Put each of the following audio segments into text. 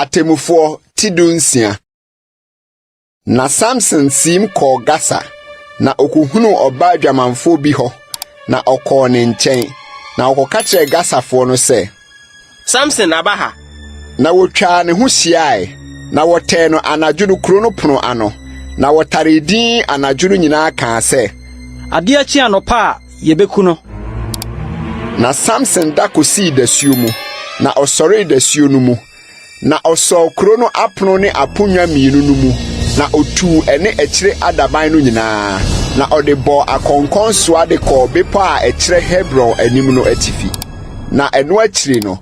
Atemmufoɔ ti dunsia. Na Samson siim kɔɔ Gasa, na ɔkɔhunuu ɔbaa adwamanfoɔ bi hɔ, na ɔkɔɔ ne nkyɛn, na ɔkɔka kyerɛɛ Gasafoɔ no sɛ, Samson aba ha! Na wɔtwaa ne ho hyiae, na wɔtɛɛ no anadwo no kuro no pono ano, na wɔtaree dinn anadwo no nyinaa kaa sɛ, Adeɛ kye anɔpa a, yɛbɛku no. Na Samson da kɔsii dasuo mu, na ɔsɔree dasuo no mu, Na ɔsɔɔ kuro no apono ne aponnwa mmienu no mu, na ɔtuu ɛne akyire adaban no nyinaa, na ɔde bɔɔ akɔnkɔnsoa de kɔɔ bepɔ a ɛkyerɛ Hebron anim no atifi. Na ɛno akyiri no,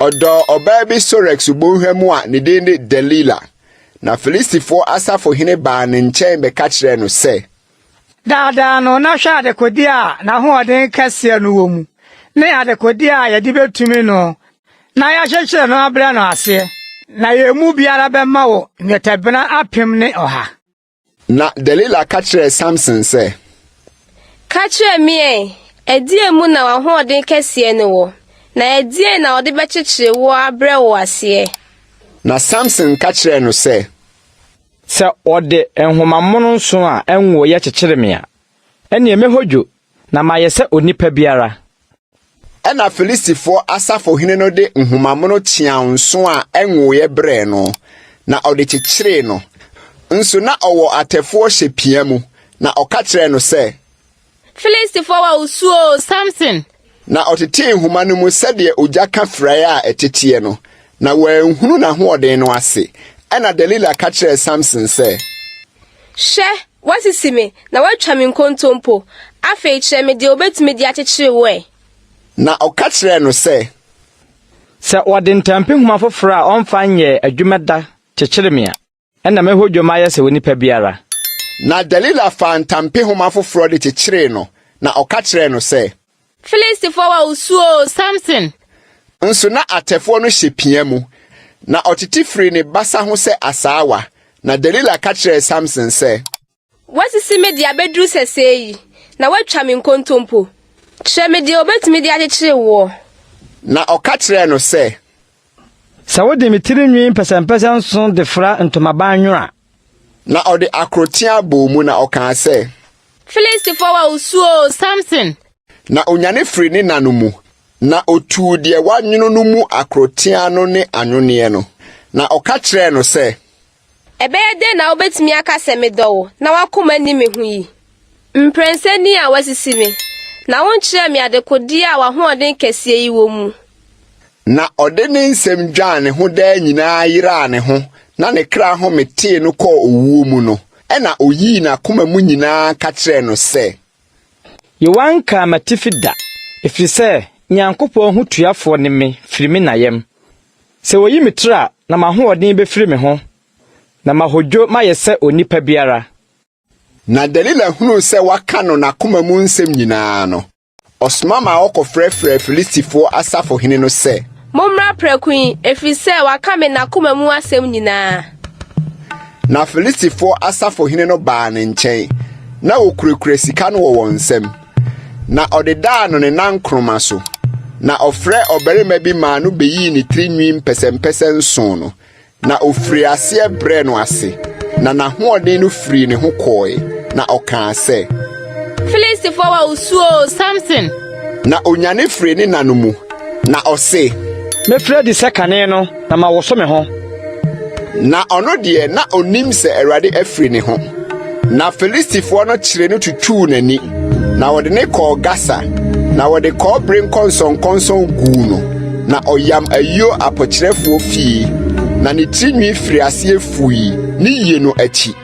ɔdɔɔ ɔbaa bi Sorek subɔnhwa mu a ne din de Delila. Na Filistifoɔ asafohene baa ne nkyɛn bɛka kyerɛɛ no sɛ, Daa daa no, na hwɛ adekodeɛ a n'ahoɔden kɛseɛ no wɔ mu, ne adekodeɛ a yɛde bɛtumi no na yɛakyekyere no abrɛ no aseɛ, na yɛn mu biara bɛma wo nnwetɛbena apem ne ɔha. Na Delila ka kyerɛɛ Samson sɛ. Ka kyerɛ me ɛ, ɛdeɛn mu na w'ahoɔden kɛseɛ no wɔ, na ɛdeɛn na wɔde bɛkyekyere woɔ abrɛ wo aseɛ? Na Samson ka kyerɛɛ no sɛ. Sɛ wɔde nhoma mono nson a ɛnwoe yɛ kyekyere me a, ɛnneɛ mɛhodwo, na mayɛ sɛ onipa biara. Ɛnna Filistifoɔ asafohene no de nhoma mono kyeaw nson a ɛnwoeɛ brɛɛ no, na ɔde kyekyeree no. Nso na ɔwɔ atɛfoɔ hyɛ pia mu, na ɔka kyerɛɛ no sɛ, Filistifoɔ wa osuoo Samson. Na ɔtetee nhoma no mu sɛdeɛ ogya ka firaeɛ a ɛteteɛ no, na wanhunu n'ahoɔden no ase. Ɛnna Delila ka kyerɛɛ Samson sɛ. Hwɛ, woasisi me, na woatwa me nkontompo. Afei kyerɛ me deɛ wobɛtumi de akyekyere wo ɛ. Na ɔka kyerɛɛ no sɛ. Sɛ wɔde ntampehoma foforɔ a ɔmfa nyɛɛ adwuma da kyekyere me a. Ɛnna mɛhɔ dwom ayɛ sɛ onipa biara. Na Delila faa ntampehoma foforɔ de kyekyeree no, na ɔka kyerɛɛ no sɛ. Filistifoɔ wa wo su oo, Samson! Nso na atɛfoɔ no hyɛ pia mu, na ɔtete firii ne basa ho sɛ asaawa. Na Delila ka kyerɛɛ Samson sɛ. Woasisi me de abɛduru sɛsɛɛ yi, na woatwa me nkontompo. Kyerɛ me deɛ wɔbɛtumi de akyekyere woɔ. Na ɔka kyerɛɛ no sɛ. Sɛ wode me tiri nwi mpɛsɛmpɛsɛ nson de fra ntomaban nwono a. Na ɔde akoroteaa bɔɔ mu, na ɔkaa sɛ. Filistifoɔ wa wo su oo, Samson! Na ɔnyane firii ne nna no mu, na ɔtuu deɛ wɔanwono no mu akoroteaa no ne anwoneɛ no, na ɔka kyerɛɛ no sɛ. Ɛbɛyɛ dɛn na wubetumi aka sɛ medɔ wo na w'akoma nni me ho yi? Mprɛnsa ni a woasisi me, na wonkyerɛɛ me adekodeɛ a w'ahoɔden kɛseɛ yi wɔ mu. Na ɔde ne nsam dwaa ne ho daa nyinaa yeraa ne ho na ne kra home tee no kɔɔ owuo mu no, ɛnna ɔyii n'akoma mu nyinaa ka kyerɛɛ no sɛ. Yehowa nkaa m'atifi da, ɛfiri sɛ Nyankopɔn ho tuafoɔ ne me firi me na yam. Sɛ wɔyi me tiri a, na m'ahoɔden bɛfiri me ho, na mahodwo mayɛ sɛ onipa biara. Na Delila hunuu sɛ waka no n'akoma mu nsɛm nyinaa no, ɔsoma maa wɔkɔfrɛfrɛɛ Filistifoɔ asafohene no sɛ. Mommra prɛko yi, ɛfiri sɛ waka me n'akoma mu asɛm nyinaa. Na Filistifoɔ asafohene no baa ne nkyɛn, na wɔkurakura sika no wɔ wɔn nsam. na ɔde daa no ne nan koroma so, na ɔfrɛɛ ɔbarima bi maa no beyii ne tiri nwi mpɛsɛmpɛsɛ nson no, na ɔfirii aseɛ brɛɛ no ase, na n'ahoɔden no firii ne ho kɔɔe, na ɔkaa sɛ, Filistifoɔ a wosuo oo, Samson! Na ɔnyane firii ne nna no mu, na ɔse. Mefiri adi sɛ kane no. Na mawoso me ho. Na ɔno deɛ, na ɔnim sɛ Awurade afiri ne ho. Na Filistifoɔ no kyeree no tutuu n'ani, na wɔde no kɔɔ Gasa, na wɔde kɔbere nkɔnsɔnkɔnsɔn guu no, na ɔyam ayuo apokyerɛfoɔ fie, na ne tirinwi firi aseɛ fui ne yie no akyi.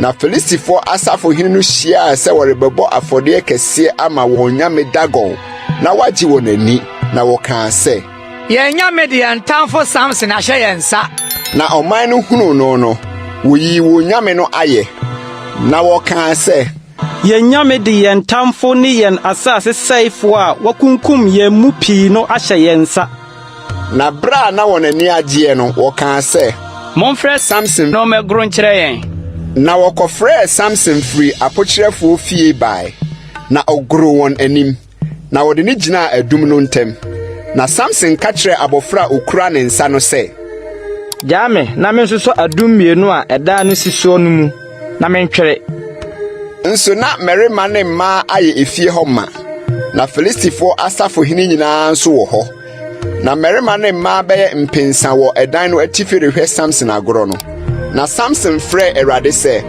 Na Filistifoɔ asafohene no hyiaa sɛ wɔrebɛbɔ afɔdeɛ kɛseɛ ama wɔn nyame Dagon na wɔagye wɔn ani, na wɔkaa sɛ, Yɛn anyame de yɛn tamfo Samson ahyɛ yɛn nsa. Na ɔman no hunuu no no, woyii wɔn nyame no ayɛ, na wɔkaa sɛ. Yɛn nyame de yɛn tamfo ne yɛn asase sɛefo a wakunkum yɛn mu pii no ahyɛ yɛn nsa. Na bere a na wɔn ani agyeɛ no, wɔkaa sɛ. Momfrɛ Samson no mmɛgoro nkyerɛ yɛn. Na wɔkɔfrɛɛ Samson firii apokyerɛfoɔ fie bae, na ɔgoroo wɔn anim. na wɔde no gyinaa adum no ntam. Na Samson ka kyerɛɛ abɔfra a okura ne nsa no sɛ, Gyaa me na mensosɔ adum mmienu a ɛdan no si soɔ no mu na mentwere. Nso na mmarima ne mmaa ayɛ efie hɔ ma, na Filistifoɔ asafohene nyinaa nso wɔ hɔ. Na mmarima ne mmaa bɛyɛ mpensa wɔ ɛdan no atifi rehwɛ Samson agorɔ no. Na Samson frɛɛ Awurade sɛ,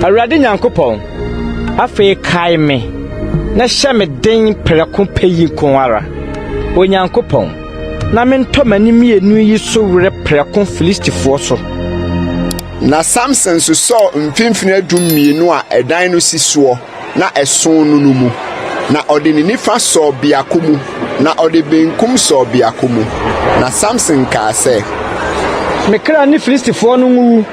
Awurade Nyankopɔn, afei kae me na hyɛ me den prɛko pɛ yi nko ara, Onyankopɔn, na mentɔ m'ani mmienu yi so were prɛko Filistifoɔ so. Na Samson sosɔɔ mfimfini adum mmienu a ɛdan no si soɔ. na ɛsõ no no mu, na ɔde ne nifa sɔɔ biako mu, na ɔde benkum sɔɔ biako mu. Na Samson kaa sɛ. Me kra ne Filistifoɔ no nwuwu.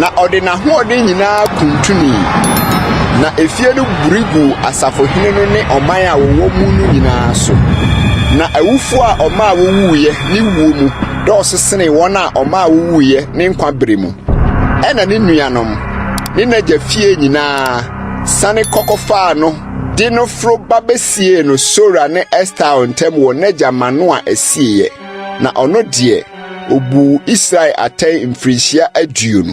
Na ɔde n'ahoɔden nyinaa kuntunii, na efie no buri guu asafohene no ne ɔman a wɔwɔ mu no nyinaa so. Na awufoɔ a ɔmaa wɔwuiɛ ne wuo mu dɔɔso senee wɔn a ɔmaa wɔwuiɛ ne nkwa bere mu. ɛnna ne nuanom ne n'agya fie nyinaa siane kɔ kɔfaa no de no foro ba besiee no Sora ne Estaol ntam wɔ n'agya Manoa asieeɛ. Na ɔno deɛ, obuu Israel atɛn mfirinhyia aduonu.